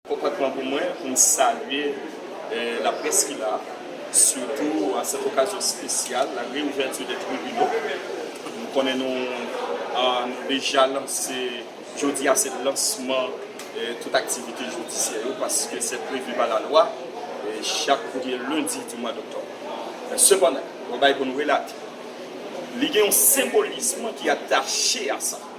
Kontantman pou mwen pou m salye laprès ki la, sitou an sèt okazyon spesyal, la reouverture des tribunaux. Nou konnen nou nou deja lanse, jodi a se lansman tout aktivite jidisyè yo paske se prevu pa lalwa chak premye lendi di mwa doktòb. Men sepandan, yon bagay pou nou relate, li gen yon senbolism ki atache a sa.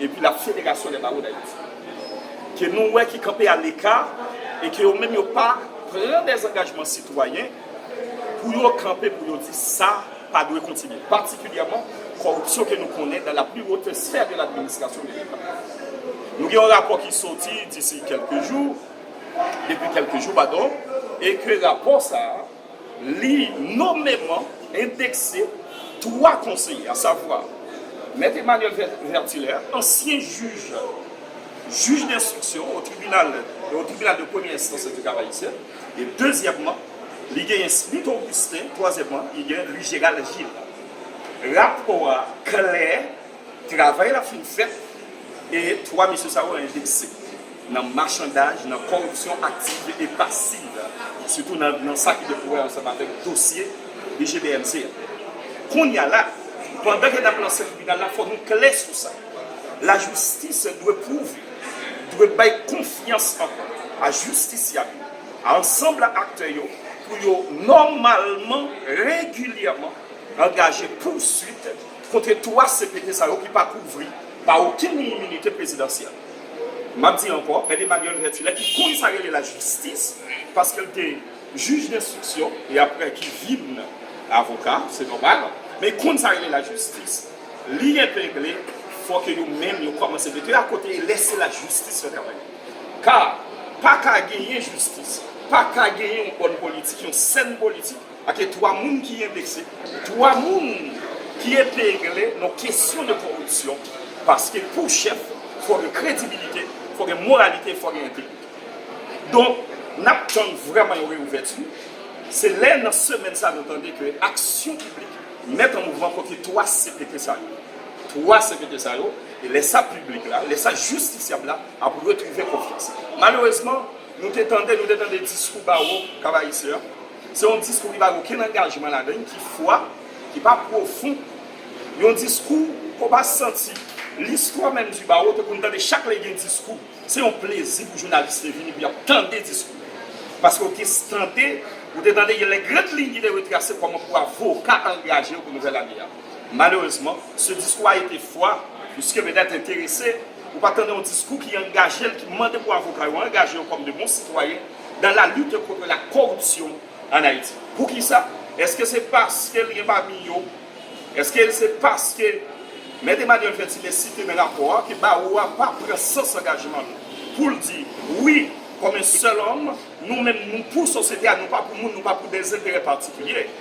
epi la Fédération des Barreaux d'Haïti, ke nou wè ki kanpe a leka e ke yo menm yo pa pran de zangajman sitwayen pou yo kanpe pou yo di sa pa dwe kontinye, patikilyèman kòripsyon ke nou konnen dan la pli wote sfè de l'administration de l'Etat. Nou gen yon rapò ki soti disi kèlke jou, depi kèlke jou, padon, e ke rapò sa a. Li nomeman endekse twa konseye, asavwa, Mèt Emmanuel Vertilaire, ansyen jij jij denstriksyon o tribinal o tribinal de premyè enstans an ti Kap Ayisyen e dezyèmman li genyen Smith Augustin, twazyèmman li gen Louis Gérald Gilles. Rapò a klè. Travay la fin fèt e 3 mesye sa yo envesti nan machandaj, nan kòripsyon aktiv e pasiv, sitou nan sa ki gen pou wè ansanm avèk dosye BGBMC a. Kounye a la, pandan ke n ap lanse tribinal la, fò nou klè sou sa, lajistis dwe pwouve, dwe bay konfyans ankò a jistisyab yo, a ansanb aktè yo pou yo nòmalman, regilyèman angaje pouswit. Kontre 3 CPT sa yo ki pa kouvri pa okenn iminite prezidansyèl. M ap di ankò, Mèt Emmanuel Vertulet ki konn sa rele lajistis paske l te jij denstriksyon e aprè ki vin avoka, se nòmal, men l konn sa rele lajistis, li epengle fò ke yo menm yo kòmanse mete yo akote e lèse lajistis fè travay li. Ka pa ka genyen jistis, pa ka genyen yon bòn politik, yon sèn politik. Ak e 3 moun ki enbese. 3 moun ki epegle nan kesyon de koripsyon paske pou chèf fò gen kredibilite, fò gen moralite, fò gen entegrite. Donk n ap tann vrèman yon reyouvèti, se lè nan semèn sa nou tande ke Aksyon Piblik mèt an mouvman kote 3 CPT sa yo. 3 CPT sa yo, e lè sa piblik la, lè sa jistisyab la ap retwouve konfyans. Malerezman, nou te tande, nou te tande diskou bawo Cap-Haïtien an, Se yon diskou ki pa gen okenn angajman ladan l, ki fwa, ki pa pwofon. Yon diskou ke w pa santi. Listwa menm di ba ou, te konn tande chak lè gen diskou. Se yon plezi pou jounalis te vini pou y ap tande diskou. Paske w te tande, ou te tande gen lè grand liy ki te retrase kòman pou avoka angaje yo pou nouvèl ane a. Malerezman, se diskou a ete fwa, piske petèt enterese, ou pa tande yon diskou ki angaje l, ki mande pou avoka yo angaje yo kòm de bon sitwayen, dans la lutte contre la corruption en Haïti. Pou ki sa? Eske se paske l gen pami yo, eske l se paske Mèt Emmanuel Fètilè site nan rapò a ke bawo a pa pran sans angajman l pou l di wi kòm un seul homme, nou menm nou pou sosyete a, nou pa pou moun, nou pa pou des intérêts particuliers,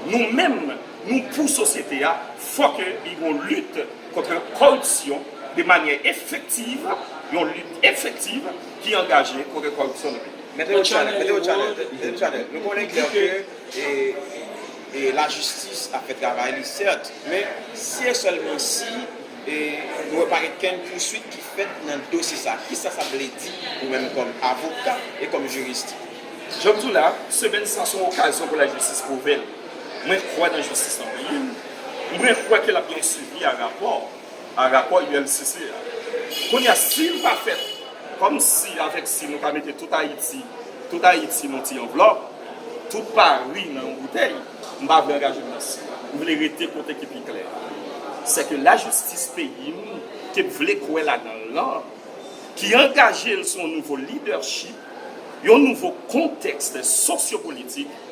nou menm nou pou sosyete a, fò ke li gen yon lutte contre corruption de manière effective, yon lutte effective. ki angaje kote kòripsyon nan peyi. Mete yon chanèl, mete yon chanèl, mete yon chanèl. Nou konnen klè ke e lajistis ap fè travay li sèt, men si e sèlman si e nou wè pa gen kenn pouswit ki fèt nan dosye sa, kisa sa vle di ou menm kòm avoka e kòm jurist? Jan m di w la, semèn sa son okazyon pou lajistis pwouve l. Mwen kwè nan jistis nan peyi m. Mwen kwè ke l ap gen yon swivi a rapò. a rapò ulcc a kounye a sil pa fèt kòm si avèk si nou ka mete tout ayiti tout ayiti nan yon ti anvlòp tout pari nan yon boutèy m pa vle angaje m nan si m vle rete kote ki pi klè sè ke lajistis peyi m ke m vle kwè ladan l lan ki angaje l sou yon nouvo lidèchip yon nouvo kontèks sosyopolitik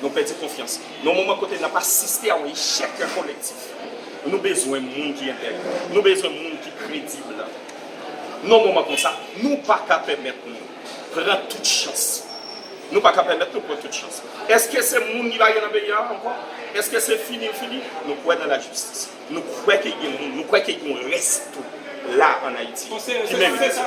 Nou pèdi konfyans. Nan yon moman kote n ap asiste a yon echèk kolektif, nou bezwen moun ki entèg, nou bezwen moun ki kredib. Nan yon moman konsa, nou pa ka pèmèt nou pran tout chans. Nou pa ka pèmèt nou pran tout chans. Eske se moun ki pa gen nan peyi a ankò? Eske se fini l fini? Nou kwè nan lajistis. Nou kwè ke gen moun, nou kwè ke gen yon rès tou la an Ayiti ki merite sa.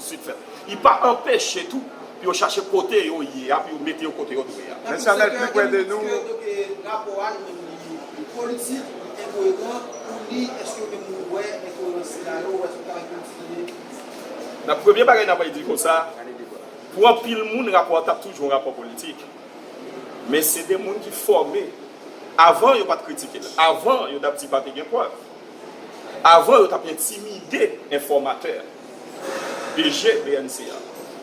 Sud fèt. Li pa anpeche tou pou yo chache kote yo ye a pou yo mete yo kote yo dwe a. Mèsi Amel pi prè de nou. Eske ok rapò a nou menm li politik, li enkoeran, ou li eske ou menm ou wè enkoerans sila yo ou eske ou ta rete ou fini? Nan premye bagay nan bay di konsa, pou anpil moun rapò a tap toujou yon rapò politik, men se de moun ki fòme, avan yo pat kritike l, avan yo tap di pa te gen prèv, avan yo tap entimide enfòmatè. DG bnc a.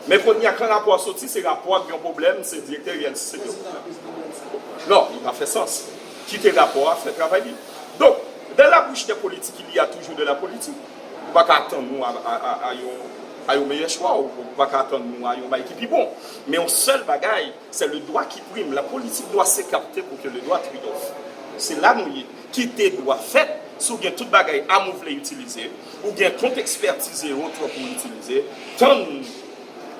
Men konnya kan rapò a soti se rapò a ki gen pwoblèm se direktè bnc ki gen pwoblèm. Non, li pa fè sans. Kite rapò a fè travay li. Donk, de la bouche des politiques il y a toujours de la politique. Ou pa ka atann nou a yon meyè chwa, ou pa ka atann nou a yon bagay ki pi bon. Men yon sèl bagay, c'est le droit qui prime. La politique doit se kapte pour que le droit triomphe. Se la nou ye. ki te dwa fèt si w gen tout bagay am ou vle itilize, ou gen kont ekspètiz e otwò pou w itilize, tann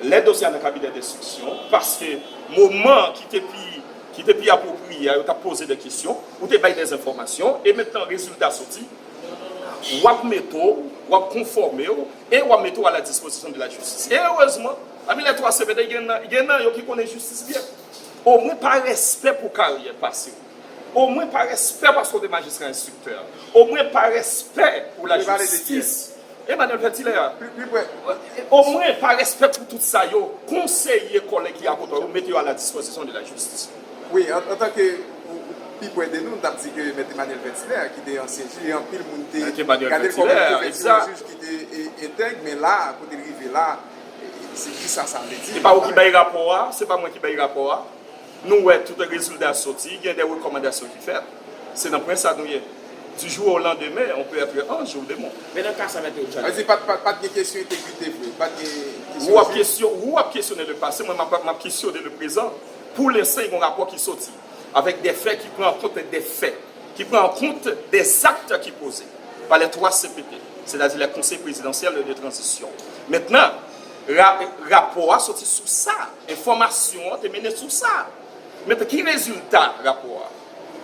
lè dosye a nan kabinè denstriksyon, paske moman ki te pi ki te pi apwopriye a yo t ap poze dè kesyon, ou te bay dè enfòmasyon e mentnan rezilta soti, w ap mete w, w ap konfòme w e w ap mete w aladispozisyon de lajistis. E erezman, pami lè twa semèn, gen nan gen nan yo ki konnen jistis byen. Omwen pa respè pou karyè pase w. O mwen pa respè paske w te majistra enstriktè. O mwen pa respè pou la jistis. Emmanuel Petit lè a. O mwen pa respè pou tout sa yo. Konseye kòlèg ki apotan yo mete yo a la dispozisyon de la jistis. Wi, an tan ke ou pi pwè de nou, nou tap di ke Mèt Emmanuel Petit lè a ki te ansyen jij e anpil moun te gade l kòm yon pwofesyon jij ki te entèg men la a kote l rive la a se kisa sa vle di. Se pa ou ki bay rapò a, se pa mwen ki bay rapò a. Nou wè tout rezilda soti, gen de rekòmandasyon ki fèt. Se nan pwen sa nou ye. Du jour au lendemain, on peut être ange ou démon. Men nan ka sa Mèt Eugène. Sa vle di pat gen kesyon entegrite vre? Pat gen kesyon entegrite? Ou wap kesyone le pase, mwen map kesyone le prezan. Pou lensan gen yon rapò ki soti. Avèk de fè ki pran an kont de fè. Ki pran an kont de zakt ki poze. Pa les 3 CPT. Sètadi les Conseils Présidentiels de Transition. Mentnan. Rapò a soti sou sa. Enfòmasyon an te mennen sou sa. Men ki rezilta rapò a?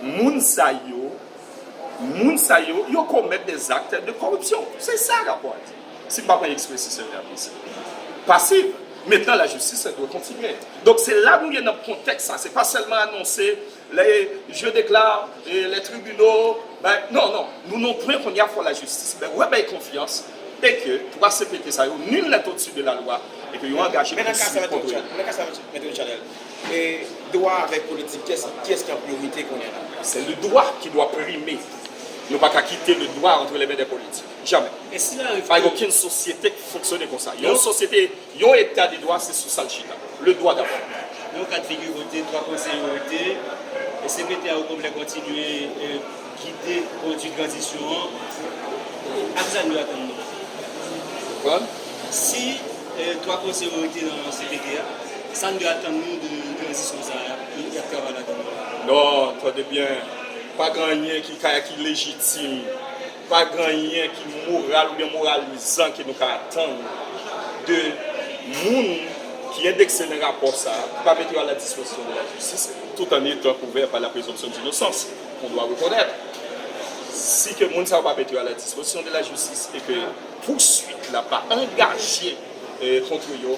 Moun sa yo, moun sa yo, yo komèt des actes de corruption. Se sa rapò a di. Si m pa pran ekspresy sèl la plis. Pasiv. Mentnan lajistis la dwe kontinye. Donk se la nou ye nan kontèks sa. Se pa sèlman anonse. Le je declare les tribunaux bay non non nou non pwen kounye a fò la jistis bay wè bay konfyans e ke 3 cpt sa yo nul n'est au-dessus de la loi e ke yo angaje pou yo swiv kòd yo. Men nan ka sa a Mèt Richanèl, e dwa avèk politik kiyès kiyès ki an priyorite kounye a la? Se le dwa ki dwa prime, nou pa ka kite le dwa antre le men dè politik, jamè, pa gen okenn sosyete ki fonksyone konsa, yon sosyete. Yon eta de dwa se sou sa l chita. Le dwa dabò. Yon ka de figi kote dwa konseye yo rete e sekretè a okonplè kontinye gide konduit tranzisyon an ak sa nou atann nan Konprann? Si dwa konseye yo rete nan sekretè a, sa nou atann nou de tranzisyon sa a ke y ap travay ladann nan? Non, tande byen, pa gen anyen ki ka ki lejitim. Pa gen anyen ki moral oubyen moralizan ke nou ka atann de moun ki endekse nan rapò sa a, pou pa mete yo a la dispozisyon de la jistis, tout an etan kouvè pa la prezonpsyon dinosans. On doit reconnaître, si ke moun sa yo pa mete yo a la dispozisyon de la jistis e ke pouswit la pa angaje kontre yo,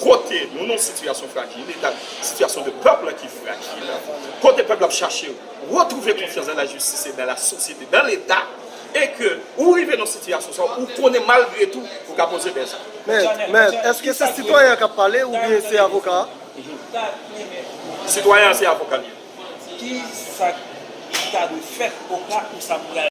Kote nou nan yon sitiyasyon frajil, li nan sitiyasyon de pèp la ki frajil, kote pèp la ap chache retwouve konfyans dan lajistis e dan lasosyete, dan leta, e ke ou rive nan sitiyasyon sa, ou konnen malgre tou, ou ka poze dè zak. Mèt, èske se sitwayen an k ap pale oubyen se avoka a? Sitwayen an se avoka li ye. Ki sa k ta dwe fèt oka ou sa pral.